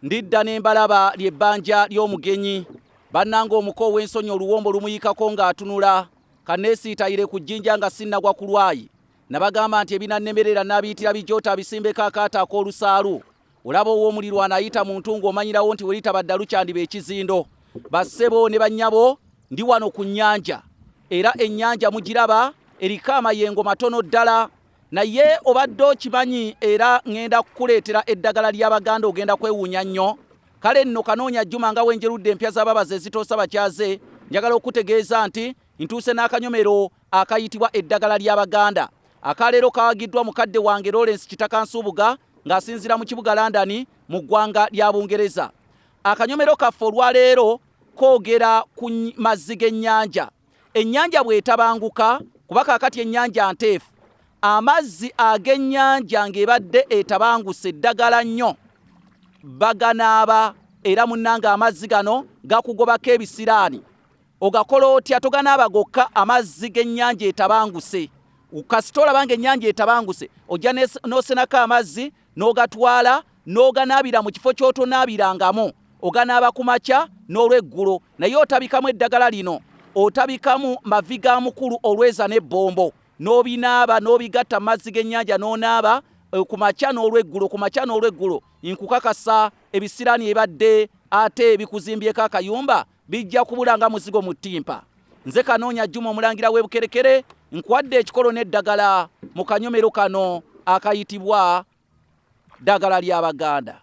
ndidda ne mbalaba ly'ebbanja ly'omugenyi bannanga omuko ow'ensonyi oluwombo lumuyikako ng'atunula kanneesiitayire ku jjinja nga sinnagwa ku lwayi nabagamba nti ebinannemerera naabiyitira bijoota abisimbeko akaato ak'olusaalu olaba ow'omuliro anayita mu ntungu omanyirawo nti welitaba ddalu kyandiba ekizindo bassebo ne bannyabo ndi wano ku nnyanja era ennyanja mugiraba eriko amayengo matono ddala Naye obadde okimanyi era ngenda kukuleetera eddagala lya Baganda ogenda kwewuunya nnyo. Kale nno kanoonya Juma nga wenjerudde empya za babazi ezitoosa bakyaze. Njagala okukutegeeza nti ntuuse n'akanyomero akayitibwa eddagala lya Baganda. Aka leero kawagiddwa mukadde wange Lawrence Kitaka Nsubuga ng'asinziira mu kibuga London mu ggwanga lya Bungereza. Akanyomero kaffe olwa leero koogera ku mazzi g'ennyanja. Ennyanja bw'etabanguka, kuba kaakati ennyanja nteefu, amazzi ag'ennyanja ng'ebadde etabanguse eddagala nnyo baganaaba era munnange amazzi gano gakugobako ebisiraani ogakola otya toganaaba gokka amazzi g'ennyanja etabanguse kasita olaba ng'ennyanja etabanguse ojja n'osenako amazzi n'ogatwala n'oganaabira mu kifo ky'otonaabirangamu, oganaaba ku makya n'olweggulo, naye otabikamu eddagala lino, otabikamu mavi ga mukulu olweza n'ebbombo, n'obinaaba n'obigatta mu mazzi g'ennyanja n'onaaba eh, ku makya n'olweggulo, ku makya n'olweggulo, nkukakasa ebisiraani ebadde ate bikuzimbyeko akayumba Bijja kubula nga muzigo mu ttimpa. Nze Kanoonya Juma omulangira w'e Bukerekere nkwadde ekikolo n'eddagala mu kanyomero kano akayitibwa ddagala lya Baganda.